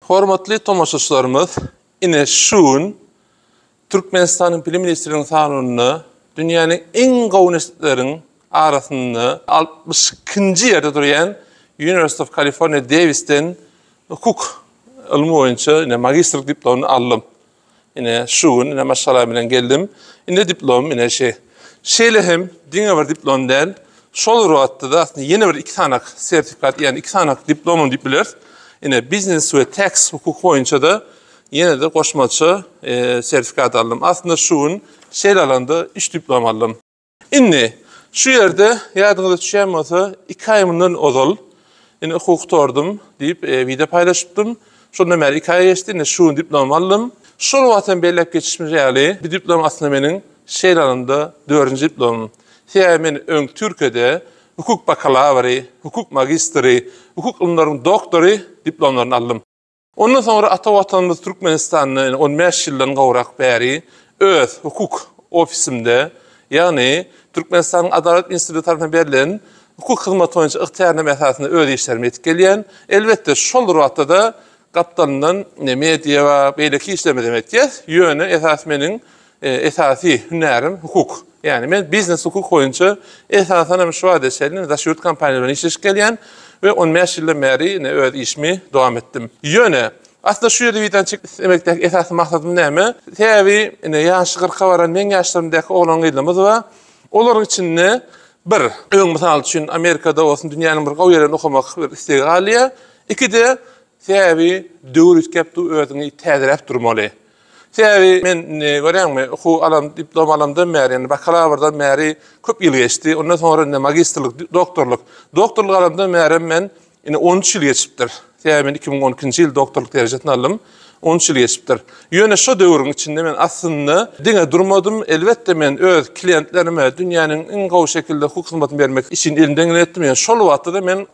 Hormatly tomaşaçylarymyz, ine şu gün Türkmenistanyň Bilim ministrliginiň sanawynda dünýäniň iň gowy uniwersitetleriniň arasynda altmyş ikinji ýerde durýan University of California Davis-den hukuk ylmy boýunça ine magistrlik diplomuny aldym. Ine, şu gün ine maşgala bilen geldim. Ine diplom, ine şey. Şeýle hem diňe bir diplom däl, şol bir wagtda-da aslynda ýene bir iki sanak sertifikat, ýagny iki sanak diplomam diýip bileris. Ine, biznes we tax hukuky boýunça-da ýene-de goşmaça sertifikat aldym. Aslynda şu gün şeýle alanda üç diplom aldym. Indi, şu ýerde, ýadyňyza düşýän bolsa, iki aý mundan ozal, indi okuw gutardym diýip, wideo paýlaşypdym. Şondan bäri iki aý geçdi, indi şu gün diplom aldym. Şol wagt hem belläp geçişimiz ýaly, bu diplom aslynda meniň şeýle alanda dördünji diplomym. Sebäbi men öň Türkiýede hukuk bakalawry, hukuk magistry, hukuk ylymlaryň doktory diplomlaryny aldym. Ondan soňra ata Watanymyz Türkmenistanda on bäş ýyldan gowrak bäri öz hukuk ofisimde, ýagny Türkmenistanyň Adalat instituty tarapyndan berlen hukuk hyzmaty boýunça ygtyýarnama esasynda öz işlerimi edip gelýän. Elbetde, şol bir wagtda-da gapdalyndan media we beýleki işlerimizi hem etýäs. Ýöne esas meniň Esasy hünärim hukuk. Ýagny men biznes hukuk boýunça esasan hem şu wagta çenli daş ýurt kompaniýalary bilen işleşip gelýän we on bäş ýyldan bäri ine öz işimi dowam etdim. Ýöne, aslynda şu ýerde wideony çekip islemekdäki esasy maksadym näme? Sebäbi ine ýaşy kyrka baran meň ýaşlarymdaky oglan-gyzlarymyz bar. Olaryň içinde bir, öň mysal üçin Amerikada bolsun dünýäniň bir gowy ýerinde okamak bir istegi galýar. Iki-de, sebäbi döwür üýtgäp dur, özüňi täzeläp durmaly. Sebäbi men indi görýäňmi, okuw alan, diplom alandam bäri, ýagny bakalawrdan bäri köp ýyl geçdi. Ondan soňra indi magistrlik, doktorlyk. Doktorlyk alandam bärem men indi on üç ýyl geçipdir. Sebäbi men iki müň on ikinji ýyl doktorlyk derejesini aldym. On üç ýyl geçipdir. Ýöne şo döwrüň içinde men aslynda diňe durmadym. Elbetde, men öz klientlerime dünýäniň iň gowy şekilde hukuk hyzmatyny bermek işini elimden geleni etdim. Ýöne şol wagtda-da men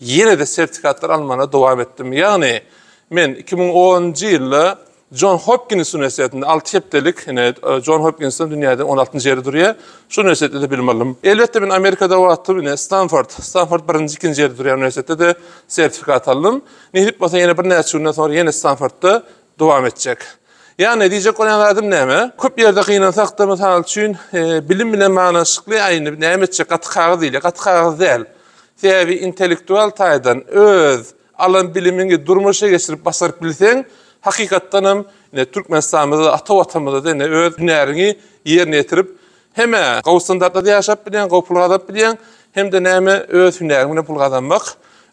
ýene-de sertifikatlar almagyna dowam etdim. Ýagny Men iki müň onunjy ýylda Jon Hopkins uniwersitetinde alty hepdelik, ine, Jon Hopkinsden dünýäde on altynjy ýerde durýar, şol uniwersitetde-de bilim aldym. Elbetde, men Amerikada wagtym, ine, Stanford, Stanford birinji, ikinji ýerde durýan uniwersitetde-de sertifikat aldym. Nesip bolsa, ýene birnäçe günden soňra ýene Stanfordda dowam etjek. Ýagny, diýjek bolýan zadym näme? Köp ýerde gynansak-da, mysal üçin, bilim bilen baglanyşykly, aý, indi näme etjek, gaty kagyz diýilýär. Gaty kagyz däl. Sebäbi intellektual taýdan öz. Alan bilimiňi durmuşa geçirip başaryp bilseň, hakykatdan hem ine Türkmenistanymyzda ata watanymyzda ine öz hünäriňi ýerine ýetirip hem-ä gowy standartlarda ýaşap bilýäň, gowy pul gazanyp bilýäň, hem-de näme öz hünäriň bilen pul gazanmak,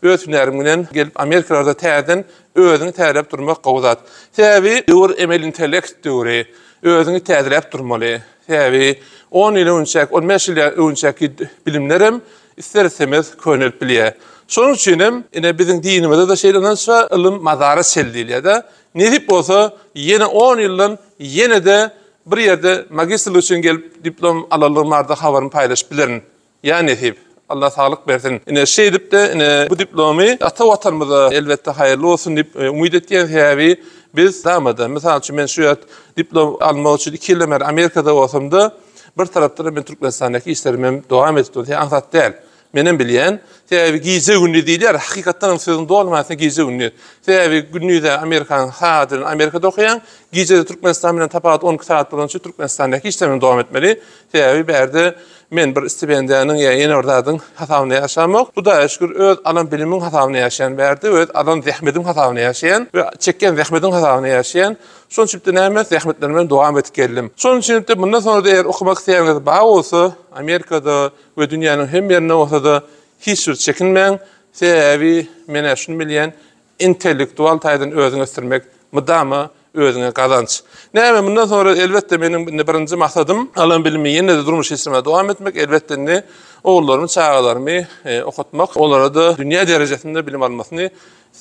öz hünäriň bilen gelip Amerikalarda täzeden özüňi täzeläp durmak gowy zat. Sebäbi döwür emeli intellekt döwri, özüňi täzeläp durmaly. Sebäbi on ýyl öňçäki, on bäş ýyl öňçäki bilimlerem Ister-istemez könelip bilýär. Şonuň üçin hem, ine, biziň dinimizde-de şeýle ynanç bar, Ylym mazara çel diýilýär-de. Nesip bolsa, ýene on ýyldan ýene-de bir ýerde magistrlik üçin gelip diplom alanlygym barada habarymy paýlaşyp bilerin. Ýa nesip. Allah saglyk bersin. Ine, şeýdip-de, ine, bu diplomy ata Watanymyza, elbetde, haýyrly bolsun diýip umyt etýän. Sebäbi biz, dama-da, mysal üçin, men şu ýerde diplom almak üçin iki ýyldan bäri Amerikada bolsam-da, Bir tarapdan men Türkmenistandaky işlerimi hem dowam edip durýan aňsat däl. Menem bilýän. Sebäbi gije gündiz diýilýär. Hakykatdan hem sözüň doly manysynda gije gündiz. Sebäbi gündize Amerikanyň sagat bilen Amerikada okaýaň. Gijede Türkmenistan bilen tapawut on iki sagat bolany üçin Türkmenistandaky işlerimi dowam etmeli. Sebäbi bärde men bir stipendiýanyň ýa ýene bir zadyň hasabynda ýaşamok. Hudaýa şükür öz alan bilimiň hasabynda ýaşaýan bärde we öz alan zähmediň hasabynda ýaşaýan we çekýän zähmediň hasabynda ýaşaýan. Şonuň üçin-de näme, zähmetlerimi bilen dowam edip geldim. Şonuň üçin-de mundan soňra-da eger okamak islegiňiz bar bolsa, Amerikada we dünýäniň hemme ýerinde bolsa-da, hiç bir çekinmäň, sebäbi men-ä şuny bilýän, intellektual taýdan özüňi ösdürmek mydama özüňe gazanç. Näme, mundan soňra, elbetde, meniň indi birinji maksadym, alan bilimi ýene-de durmuş geçirmä dowam etmek, elbetde, indi ogullarymy, çagalarymy okatmak, olara-da dünýä derejesinde bilim almasyny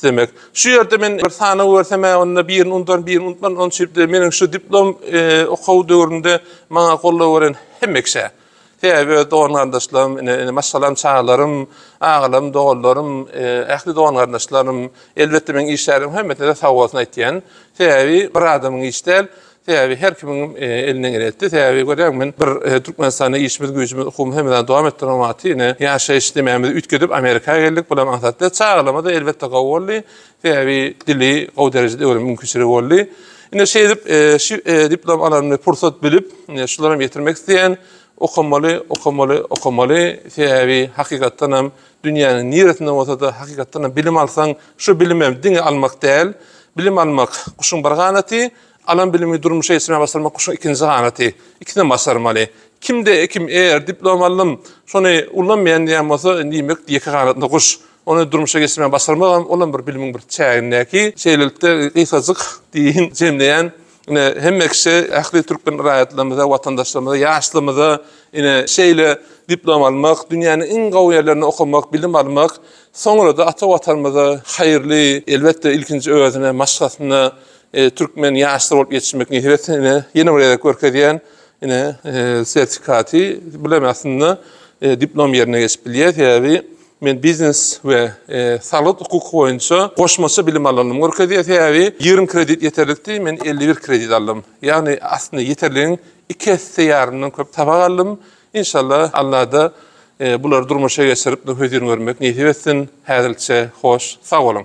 Demek, şu ýerde men bir sanaw görsem-ä, onda birini unudaryn, birini unutmaryn, onuň üçin-de meniň şu diplom okuw döwründe maňa goldaw beren hemme kişä, sebäbi öz dogan-garyndaşlarym, ine, ine, maşgalam, çagalarym, agalarym, doganlarym, ähli dogan-garyndaşlarym, elbetde, meniň işgärim hemmesine-de sag bolsun aýtýan. Sebäbi bir adamyň işi däl, Sebäbi her kimiň elinden geleni etdi. Sebäbi görýäň men bir Türkmenistanda işimiz güýjümiz okumy hemedany dowam etdirmek wagty ine ýaşaýyş diýmämizi üýtgedip Amerika geldik bulam aňsatly. Çagalarymyzda elbetde gowy boldy. Sebäbi dili gowy derejede öwrenme mümkinçiligi boldy. Ine şeýdip şu diplom alanymy pursat bilip ine şular hem ýetirmek isleýän. Okamaly, okamaly, okamaly. Sebäbi hakykatdan hem dünýäniň niresinde bolsada hakykatdan hem bilim alsaň şu bilim hem diňe almak däl. Bilim almak guşuň bir ganaty. Alan bilimi durmuşa geçirmäge başarmak guşuň ikinji ganaty. Ikisinem başarmaly. Kimde kim eger diplom aldym, şony ullanmaýan diýen bolsa, diýmek ýeke ganatly guş. Ony durmuşa geçirmäge başarmagam, olam bir bilimiň bir çägindäki. Şeýlelikde, gysgajyk diýiň, jemleýän, ine, hemme kişä, ähli türkmen raýatlarymyza, watandaşlarymyza, ýaşlarymyza, ine, şeýle diplom almak, dünýäniň iň gowy ýerlerinde okamak, bilim almak, soňra-da ata Watanymyza haýyrly, elbetde, ilkinji özüne, maşgalasyna, Türkmen ýaşlary bolup ýetişmek nihbetini ine ýene bir gezek görkezýän ine sertifikaty bilen aslynda diplom ýerine geçip bilýär. Sebäbi men biznes we salyt hukuk boýunça goşmaça bilim alanymy görkezýär. Sebäbi 20 kredit ýeterlikdi, men 51 kredit aldym. Ýagny aslynda ýeterligiň iki esse ýarymdan köp tabak aldym. Inşallah Allada bulary durmuşa geçirip nüfuzini görmek nesip etsin. Häzirlikçe hoş, sag boluň.